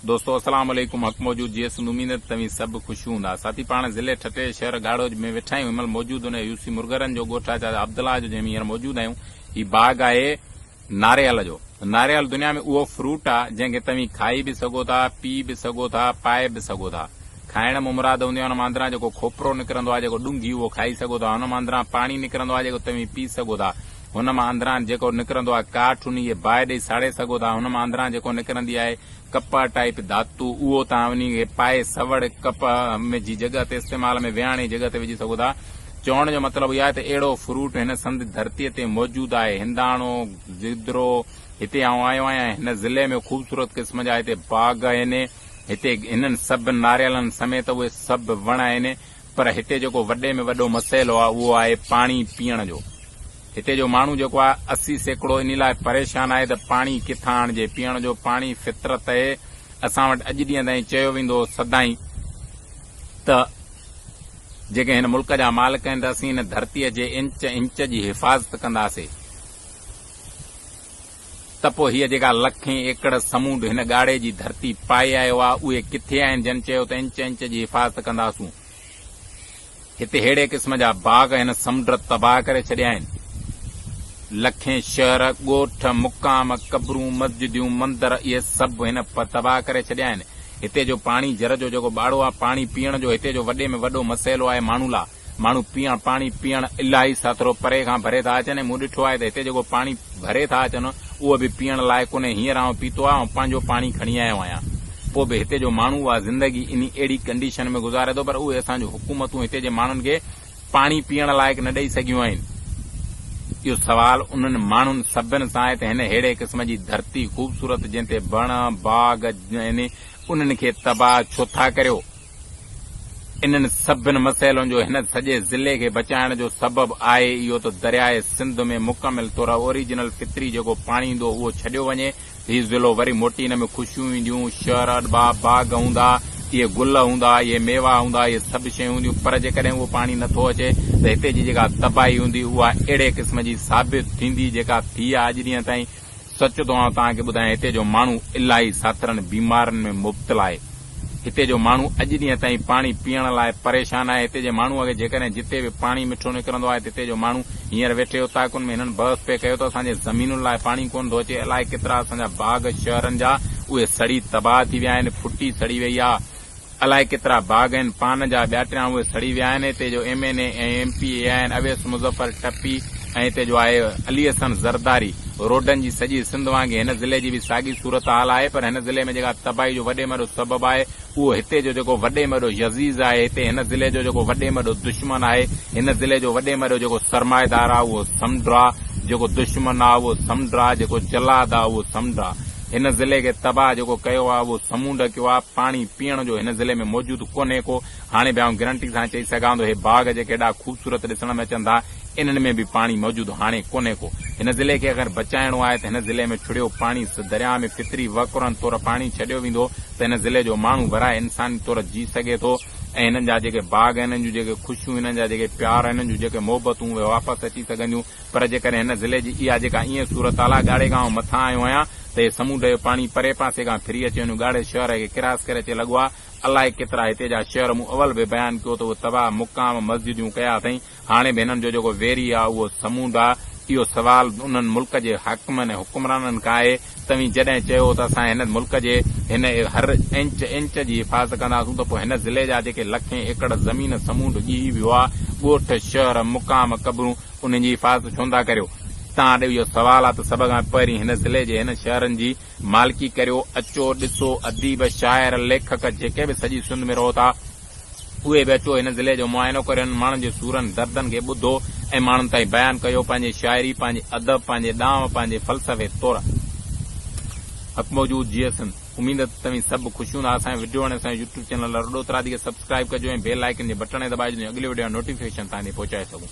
دوستو السلام عليڪم حق موجود جي سنڌ اميد ته توهين سڀ خوش هوندا ساٿي پاڻ ضلعي ٺٽي جي شهر گهاڙوج ۾ ويٺا آهيون هن مهل موجود ان يو سي مرغرن جو ڳوٺ آهي چاچا عبدالله جو جنهن ۾ هينئر موجود آهيون هي باغ آهي ناريل جو ناريل دنيا ۾ اهو فروٽ آ جنهن کي توهين کائي به سگهو ٿا پي به سگهو ٿا پائي به سگهو ٿا کائڻ مان مراد هوندي آهي ان مان اندران جيڪو کوپرو نڪرندو آهي جيڪو ڏونگهي اهو کائي سگهو ٿا ان مان اندران پاڻي نڪرندو آهي جيڪو توهين پي سگهو ٿا هن مان اندران جيڪو نڪرندو آهي ڪاٺ انهيء باهه ڏئي ساڙي سگهو ٿا. هن مان اندران جيڪو نڪرندي آهي ڪپهه ٽائيپ ڌاتو اهو توهان انهيء کي پائي سوڙ ڪپهه ۾ جي جڳهه تي استعمال ۾ ويهاڻي جڳهه تي وجهي سگهو ٿا. چوڻ جو مطلب اهو آهي ته اهڙو فروٽ هن سنڌ ڌرتيء تي موجود آهي. هنداڻو، گدرو، هتي آئون آيو آهيان ۽ هن ضلعي ۾ خوبصورت قسم جا هتي باغ آهن. هتي هنن سڀ ناريلن سميت اهي سڀ وڻ آهن پر هتي جيڪو وڏي ۾ وڏو مسئلو آهي اهو آهي پاڻي پيئڻ جو. هتي جو ماڻهو جيڪو آهي اسي سيڪڙو انهي لاء پريشان آهي ته پاڻي ڪٿان آڻجي. پيئڻ جو پاڻي فطرت اهي اسان وٽ اڄ ڏينهن تائين چيو ويندو هو سدائين ته جيڪي هن ملڪ جا مالڪ آهن ته اسين هن ڌرتيء جي انچ انچ جي حفاظت ڪنداسي. ته پوء هيء جيڪا لکين ايڪڙ سمونڊ هن ڳاڙهي جي ڌرتي پائي آيو آهي، اهي ڪٿي آهن جن چيو ته انچ انچ جي حفاظت ڪنداسون. هتي ههڙي قسم جا باغ هن سمنڊ تباهه ڪري ڇڏيا آهن. لکين شهر، ڳوٺ، مقام، قبرون، مسجديون، مندر اهي سڀ هن تباهه ڪري ڇڏيا آهن. هتي جو پاڻي جر جو جيڪو ٻاڙو آهي، پاڻي پيئڻ جو هتي جو وڏي ۾ وڏو مسئلو آهي ماڻهن لا. ماڻهو پيئڻ پاڻي پيئڻ الاهي سٿرو پري کان ڀري ٿا اچن ۽ مون ڏٺو آهي ته هتي جيڪو پاڻي ڀري ٿا اچن اهو به پيئڻ لائق ڪونهي هينئر آئون پيتو آهي ۽ پنهنجو پاڻي کڻي آيو آهيان پوء به هتي جو ماڻهو اها زندگي انهي اهڙي ڪنڊيشن ۾ گذاري ٿو پر اهي اسان جون حڪومتون هتي جي ماڻهن کي پاڻي پيئڻ لائق نه ڏئي سگهيون آهن. اهو سوال انهن ماڻهن سڀن سان آهي ته هن ههڙي قسم جي ڌرتي خوبصورت جنهن تي وڻ باغ آهن انهن کي تباهه ڇو ٿا ڪريو. انهن سڀن مسئلن جو هن سڄي ضلعي کي بچائڻ جو سبب آهي اهو ته درياء سنڌ ۾ مڪمل طور اوريجنل فطري جيڪو پاڻي ايندو اهو ڇڏيو وڃي ته هي ضلعو وري موٽي ان ۾ خوشيون اينديون شهر اڏبا باغ هوندا اهي گل هوندا اهي ميوا هوندا اهي سڀ شيون هونديون پر جيڪڏهن اهو پاڻي نٿو اچي ته هتي جي جيڪا تباهي هوندي اها اهڙي قسم جي ثابت ٿيندي جيڪا ٿي آهي اڄ ڏينهن تائين سچ ٿو آئون توهان کي ٻڌايان هتي جو ماڻهو الاهي ساٿرن بيمارين ۾ مبتلا آهي. هتي جو ماڻهو اڄ ڏينهن تائين پاڻي پيئڻ لاء پريشان آهي. هتي جي ماڻهوء کي جيڪڏهن جتي به پاڻي مٺو نڪرندو آهي ته هتي جو ماڻهو هينئر ويٺي اوطاقن ۾ هنن بحث پئي ڪيو ته اسان جي زمينن لاء پاڻي ڪونه ٿو اچي. الاهي ڪيترا اسان جا باغ شهرن جا اهي سڙي تباهه ٿي ويا آهن. ڦٽي سڙي وئي آهي. الائي ڪيترا باغ آهن پان جا ٻياٽريان اهي سڙي ويا آهن هتي جو M N A ۽ M P A آهن اويس مظفر ٽپي ۽ هتي جو آهي علي حسن زرداري روڊن جي سڄي سنڌ وانگي هن ضلعي جي به ساڳي صورتحال آهي پر هن ضلعي ۾ جيڪا تباهي جو وڏي ۾ وڏو سبب آهي اهو هتي جو جيڪو وڏي ۾ وڏو يزيز آهي هتي هن ضلعي جو جيڪو وڏي ۾ وڏو دشمن آهي هن ضلعي جو وڏي ۾ وڏو جيڪو سرمائيدار آهي اهو سمنڊ آهي جيڪو دشمن آهي اهو سمنڊ آهي جيڪو جلاد آهي اهو سمنڊ آهي هن ضلعي کي تباهه جيڪو ڪيو آ اهو سمونڊ ڪيو آ پاڻي پيئڻ جو هن ضلعي ۾ موجود ڪونهي ڪو هاڻي به آئون گرنٽي سان چئي سگهان ٿو هي باغ جيڪي ايڏا خوبصورت ڏسڻ ۾ اچن ٿا انهن ۾ به پاڻي موجود هاڻي ڪونهي ڪو هن ضلعي کي اگر بچائڻو آهي ته هن ضلعي ۾ ڇڙيو پاڻي سه درياء ۾ فطري وهڪرن طور پاڻي ڇڏيو ويندو ته هن ضلعي جو ماڻهو ورهائي انساني طور جي سگهي ٿو ۽ هنن جا جيڪي باغ هنن جون جيڪي خوشيون هنن جا جيڪي پيار هنن جون جيڪي محبتون اهي واپس اچي سگهنديون پر جيڪڏهن هن ضلعي جي اها جيڪا ايئن صورت حال آهي، ڳاڙهي گاهه مٿان آيو آهيان ته هي سمونڊ جو پاڻي پري پاسي کان ڦري اچي هن ڳاڙهي شهر کي ڪراس ڪري اچي لڳو آهي. الائي ڪيترا هتي جا شهر مون اول به بيان ڪيو ته اهي تباهه مقام مسجديون ڪيا اٿئين. هاڻي به هنن جو جيڪو ويري آهي اهو سمونڊ آهي. اهو سوال انهن ملڪ جي حاڪمن ۽ حڪمرانن کان آهي. توهين جڏهن چيو ته اسان هن ملڪ جي هن هر انچ انچ جي حفاظت ڪنداسون ته پوء هن ضلعي جا جيڪي لکين ايڪڙ زمين سمونڊ ڄهي ويو آهي، ڳوٺ، شهر، مقام، قبرون، انهن جي حفاظت ڇو نٿا ڪريو؟ توهان ڏي اهو سوال آهي ته سڀ کان پهرين هن ضلعي جي هن شهرن جي مالڪي ڪريو، اچو ڏسو اديب، شاعر، ليکڪ جيڪي به سڄي سنڌ ۾ رهو ٿا، اهي به اچو هن ضلعي جو معائنو ڪريو هنن ماڻهن جي سورن دردن کي ٻڌو ۽ ماڻهن تائين بيان ڪيو پنهنجي شاعري پنهنجي ادب پنهنجي ڏانء پنهنجي فلسفي طور حق موجود جيئي سنڌ اميد ته توهين سڀ به خوش هوندا اسان جي وڊيو وڻي اسان جو يوٽيوب چينل لرو ڏوترادي کي سبسڪرائيب ڪجو ۽ بيل آئيڪن جي بٽڻ کي دٻائجو جيئن اڳلي وڊيو جا نوٽيفڪيشن توهان تائين پهچائي سگهون.